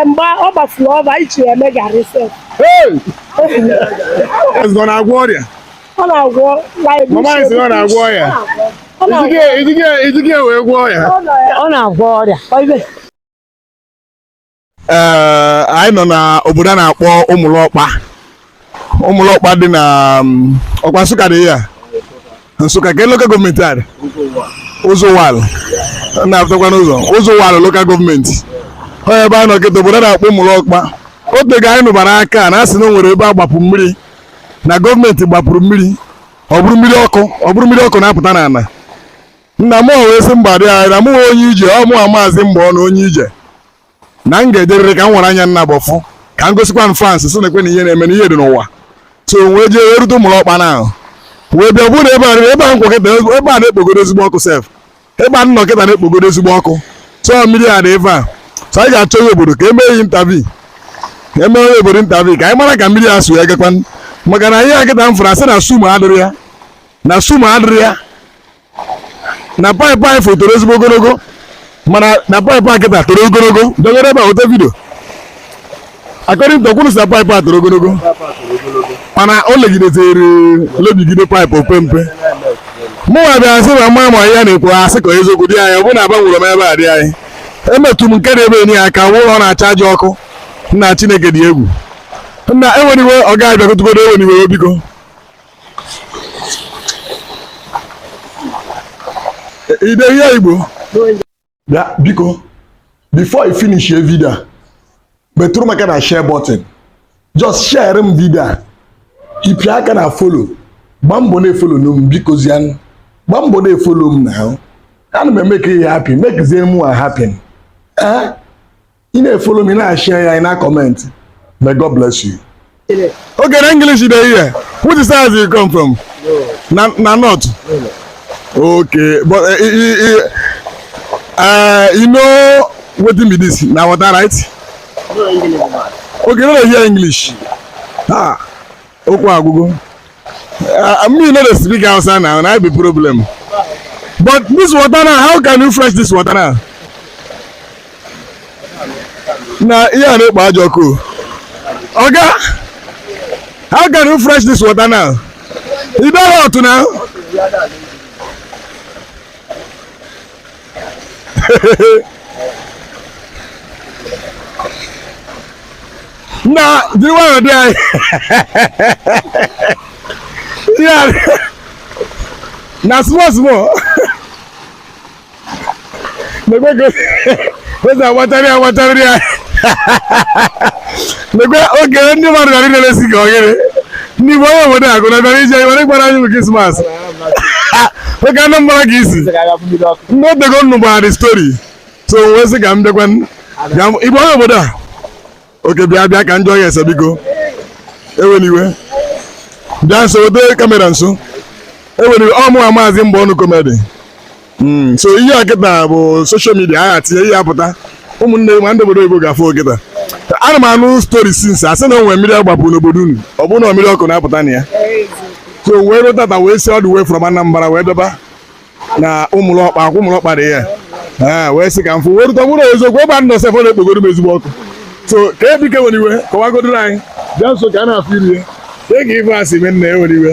mgbe ọ gbasiri ọba anyị chiri eme garị sef Hey! Ezi ọ na-agwọ ọrịa ọ na-agwọ like mama anyị sị na ọ na-agwọ ọrịa ọ na-agwọ Ijike ijike ijike wee gwọ ọrịa ọ nọ ya ọ na-agwọ ọrịa oibe ee anyị nọ na obodo a na-akpọ ụmụlọkpa ụmụlọkpa dị na um, ọkwa nsụka dị ya nsụka ke lokal gọọmenti a dị ụzọ uwani na-apụtakwa n'ụzọ ụzọ uwani lokal gọọmenti ọ ebe a nọ kịta obodo a na-akpọ ụmụlọkpa otego anyị nụbara ka a na-asị na o nwere ebe a gbapụ mmiri na gọọmenti gbapụrụ mmiri ọ bụrụ mmiri ọkụ ọ bụrụ mmiri ọkụ na-apụta n'ala nna mụ wee sị mba dianyị na mụnwa onye ije ọ mụwa maazị mgbe ọnụ onye ije na m ga-ejerịrị ka m were anya m naabọ fụ ka m gosikwanụ friends sị nekwene ihe na-eme na ihe dị n'ụwa so wee jee wee rute ụmụlọkpa ahụ wee bịa bụrụ ebe a ebe a m kwụ kịta ebe a na-ekpogodo ezigbo ọkụ sef ebe a m nọ kịta na-ekpogodo ezigbo ọkụ so mmiri a dị ebe a so anyị ga-achọ onye obodo ka emee ya interview ka emee onye obodo interview ka anyị mara ka mmiri a si agakwa maka na ihe a kịta m fụrụ asị na sumo adịrọ ya na sumo adịrọ ya na paịpụ anyị fụ toro ezigbo ogologo mana na paịpụ a kịta toro ogologo dogoro ebe a ote vidio akọrị ntọ kwuru sị na paịpụ a toro ogologo mana o legidezere lebigide paịpụ ọ pee mpe mụnwa bịara sị na m ama ma ya na-ekwu asị ka eziokwu dianyị ọ bụrụ na agbanwere m ebe a dianyị emetụ m nke na-ebe enyi ya aka m ụlọ na-acha aja ọkụ nna chineke dị egwu nna ewela iwe ọga bịagotugodo ewela iwe biko ide ihe igbo bịa biko before ị finishie video a metụrụ m aka na share button just share m video a ị pịa aka na follow gbaa mbọ na-efolo m bikozianụ gbaa mbọ na-efolo m na ahụ ana m emeke ị happy mekezie mụwa happy eh ị na-efolo m ị na-ashịa ya ị na-akọmentị may God bless you oge na English dị ihe which is as you come from na na north okay but uh, you, uh, you know wetin be this na water right okay no dey hear English ah okwu agwụgo mmiri no dey speak hausa now na be problem but this water now how can you fresh this water now na ihe a na-ekpo ajọ ọkụ oga how can you fresh this water now you don hot now na jiri nwayọọ dianyị Ya, na small small nekwe ka o si agbatara ya agbatara ya okay ndị mmadụ gara na-elesi gị oghere ndị igbo onye obodo a gụrụ bịara ije were gbara anyị bụ krismas oge anụ mgbara ka isi ndị otego m nụbara the stori so wee sị ka m bịakwa igbo onye obodo a okay bịa bịa ka m jụọ ya ese biko ewela iwe bịa nso weta kamera nso ewela iwe ọ mụwa maazị mgbe ọnụ komedi Hmm, so ihe a kịta bụ soshal midia a ga-etinye ihe apụta ụmụnne ma ndị obodo oyibo ga-afụ kịta ana m anụ stori since a sị na o nwere mmiri agbapụ n'obodo unu ọ bụrụ na mmiri ọkụ na-apụta na ya so wee ruo tata wee si ọdụ wee from Anambra wee bịaba na Ụmụlọkpa akwa Ụmụlọkpa dị ya ee wee sị ka m fụ wee rute bụrụ eziokwu ebe a nọ sef ọ na-ekpogoro m ezigbo ọkụ so ka biko ewena iwe kọwagodoro anyị bịa nso ka a na-afụ iru ya ka ị gwa ife a si mee nna ya ewena iwe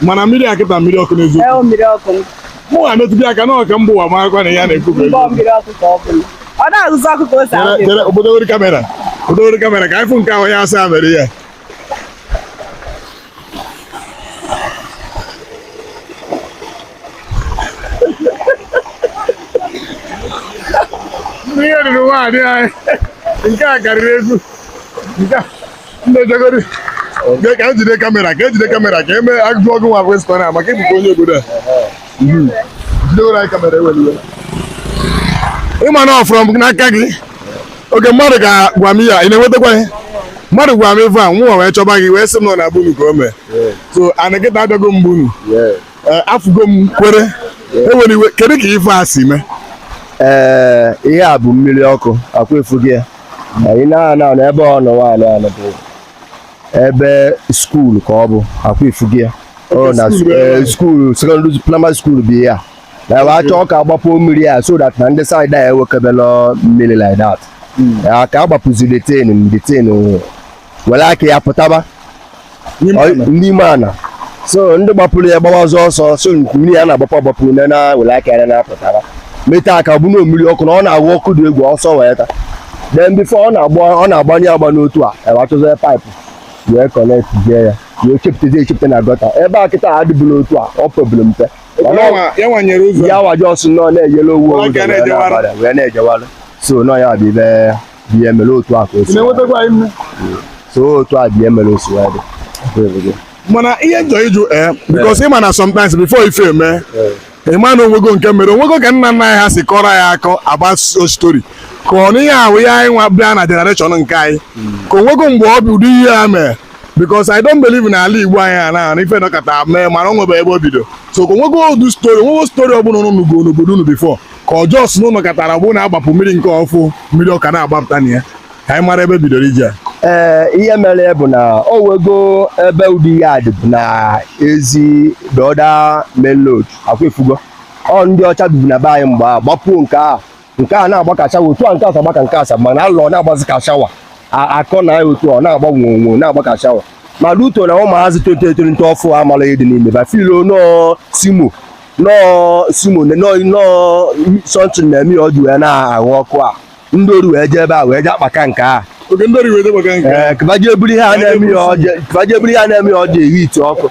mana mmiri a kịta mmiri ọkụ n'eziokwu mmiri ọkụ mụ ha metụbi aka na ọka mba ụwa marakwa na ya na-ekwu ọ na-azụzụ ọkụ ka o si ahụ obodo were kamera obodo were kamera ka anyị fụ nke ahụ ya asa mere ya ihe ruru nwaanyị anyị nke a karịrị egwu nke a ndị jegori ka e jide kamera ka e jide kamera ka e mee ajụjụ ọnụ nwa kwesị kwana maka ị bụkwa onye obodo a mhm. jidewere anyị kamera ewela iwe ị ma na ọ fụrụ m n'aka gị oge mmadụ ka gwa m ya ị na-enwetakwa ihe mmadụ gwara m ife a nwa wee chọba gị wee sị m na be unu ka o mee so ana kịta abịago m be unu eh, afụgo m kwere ewela iwe kedu ka ife a si mee ee eh, ihe a bụ mmiri ọkụ akwa ị fụgo ya anyị na-ana na ebe ọnụnwa anyị nọ bụ ebe skuul ka ọ bụ akwa ị fụgo ya ọ na skuul eh, sekọndịrị praịmarị skuul bụ ya na ebe achọ ka a gbapu mmiri ya so that na ndị saịd a ya ewekebela mmiri like that hmm. ka a gbapuzi the thing the thing were aka ya pụtaba n'ime ana so ndị gbapuru ya gbawa ọzọ ọsọ so mmiri ya na-agbapụ agbapụ na na were aka ya na-apụtaba meta aka bụ na ọ mmiri ọkụ na ọ na-agba ọkụ dị egwu so wee ta then bifo ọ na-agbanye agba n'otu a e wee chọzie paịpụ wee kọnektịa ya wee chepụtazi echepụta na gọta ebe a kịta adịbụla otu a ọ pebụrụ mpe ya waji ọsụ nọ na-eyere owu wee na-ejewara so nọ ya bụ ihe dị ya mere otu a ka o si na-enwetakwa anyị nne so otu a bụ ihe mere o si wee dị mana ihe m chọ ịjụ ee bikos ịma na sometimes before ife eme ịma na onwego nke mere onwego ka nna nna anyị ha si kọrọ ya akọ agba stori ka ọ n'ihe ahụ ya anyị nwa bịa na generation nke anyị ka onwego mgbe ọ bụ ụdị ihe a mere bikos i don't believe na ala Igbo anyị a na na ife nọkata mee mana o nwebe ebe o bido so ka onwego old stori onwego stori ọbụla unu nụgo n'obodo unu before ka ọ just unu nọkatara bụ na a gbapu mmiri nke ọfụ mmiri ọkụ ana-agbapụta na ya ka anyị mara ebe e bidoro ije a ee ihe mere bụ na o nwego ebe ụdị ya dị bụ na ezi the other main road akwa ị fụgo ọ ndị ọcha bibu na be anyị mgbe a gbapuo nke a nke a na-agba ka shawa otu a nke asa gbaka nke asa mana alụ ọ na-agbazi ka shawa A- akọ na ya otu a, ọ na-agba nwonwo na-agba ka shawa ma rute na ụmụazị tolitolite ọfụ amala ihe dị n'ime ba filo nọọ simo nọọ simone nọọ nọọ something na-eme ya ọ ji wee na-aghụ ọkụ a ndị ori wee jee ebe a wee jee akpaka nke a oge ndị ọrụ iweta maka nke ee ka ba jee buru ihe a na-eme ya ọ ji ka ba jee buru ihe a na-eme ya ọ ji ehi ite ọkụ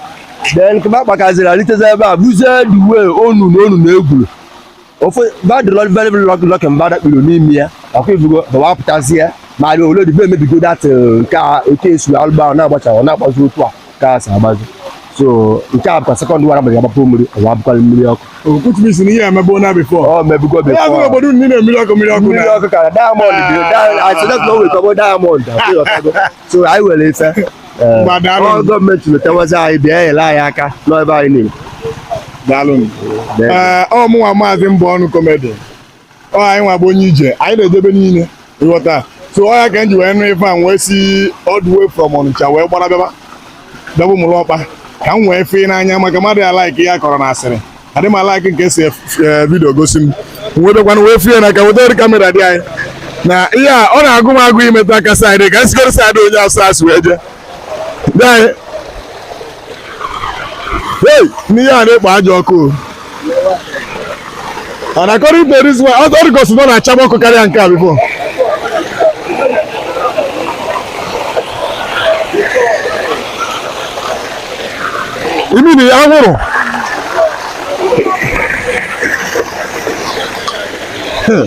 then ka ba kpakaziri alitezi ebe a buzie the way onu na onu na egwuru ofe ba dị nọọ very very lucky lucky na ba adakpurọ n'ime ya ọkụ ị fụgo ba wee pụtazie ma rịa ole dị be emebigo dat nke a okay so alụgba na-agbacha ọ na-agbazi otu a gas agbazi so nke a bụkwa second one a mgbe agbapụ mmiri ọwa abụkwala mmiri ọkụ okwuchibisi na ihe emebe na bifọ ọ mebugo ya bifọ bụrụ obodo niile mmiri ọkụ mmiri ọkụ mmiri na ọkụ kara diamond dị asịdọt na o nwee ike ọ bụ diamond ọkụ ịghọtago. so anyị nwere ife eh, Ngwa, daalụ. ọ gọọmenti letawazi anyị bịa nyere anyị aka n'ebe anyị niile daalụ Daalụ. ee ọ mụnwa maazị mbụ ọnụ komedi ọ anyịnwa bụ onye ije anyị na-eje ebe niile ịghọta so ọ ya ka m ji wee nụ ife a m wee si all the way from Ọnịcha wee gbara bịaba bịaba Ụmụlọkpa ka m wee fụ ya n'anya maka mmadụ ya laiki ya kọrọ na asịrị adị m alaiki nke si vidio gosi m m wee bịakwanụ wee fụ ya na ka wetara kamera dịanyị na ihe a ọ na-agụ m agụụ imetụ aka saịdị ka m sigoro saịdị onye asụ asụ wee jee n'ihe a na-ekpo ajọ ọkụ and according to this one ọ dị ka ọ sị na ọ na-achaba ọkụ karịa nke a bifo imi na ya nwụrụ Hmm.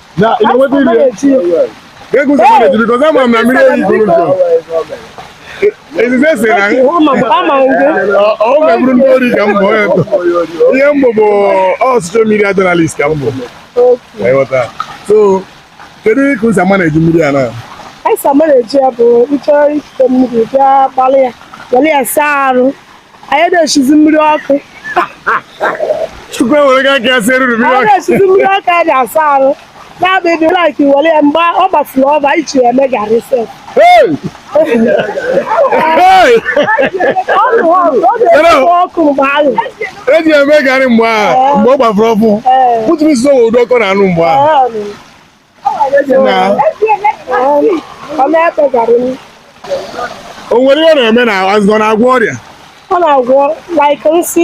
Na ị na-enweta iri ya? Kedu ụzọ mmadụ eji, because ama m na mmiri oyi buru ụzọ. Ezize si na ọ- ọ meburu ndị ori ka m bụ onye ntọ. Ihe m bụ bụ ọ social media journalist ka m bụ. Ka ị ghọta. So, kedu ka ụzọ mmadụ eji mmiri a na? Anyị sama na-eji ya bụ ịchọrọ ikute mmiri bịa gbalị ya were ya saa arụ anyị na-esizi mmiri ọkụ Chukwu ewerego aka ya sieruru mmiri anyị ọkụ na-esizi mmiri ọkụ anyị na-asa arụ na-abịdị laik were ya mgbe ọ gbafuru ọfụ anyị ji ya eme garị sef Hey! Hey! ọ bụ ọkụ ọ na-ekpo ọkụ mgbe ahụ eji eme garị mgbe a mgbe ọ gbafuru ọfụ Ee. pụtụrụ isi ụdị ọkụ ọ na-anụ mgbe a Ee, o nwere ihe ọ na-eme n'arụ ọ na-agwọ ọrịa ọ na-agwọ like nsị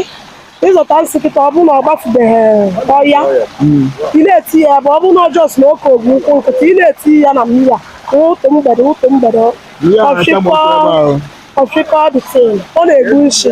ịzọta nsị kịta ọ bụrụ na ọ gbafubeghị ọya ị na-eti ya ebe ọ bụrụ na ọ just na oke ogwu ụkwụ nkịta ị na-eti ya na mmiri a ụtụtụ mgbede ụtụtụ mgbede Ihe a na-ata m ụtụ ebe ahụ. ọfịkọ this thing ọ na-egbu nshi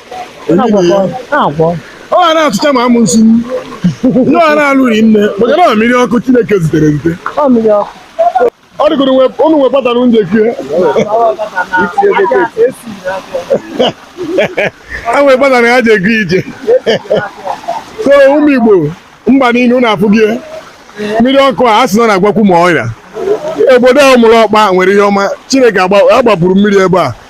ọ ga na-atụcha ma amụ nsi ndị ọ na-alụ rinne maka na mmiri ọkụ Chineke zitere ezite ọ dịgoro ụnụ nwe kpatara nje kie a nwee kpatara ha ji ego ije so ụmụ Igbo mba niile ụnụ afụgo mmiri ọkụ a asị na ọ na-agwọkwu ma ọrịa obodo a Umulokpa nwere ihe ọma Chineke agbapụrụ mmiri ebe a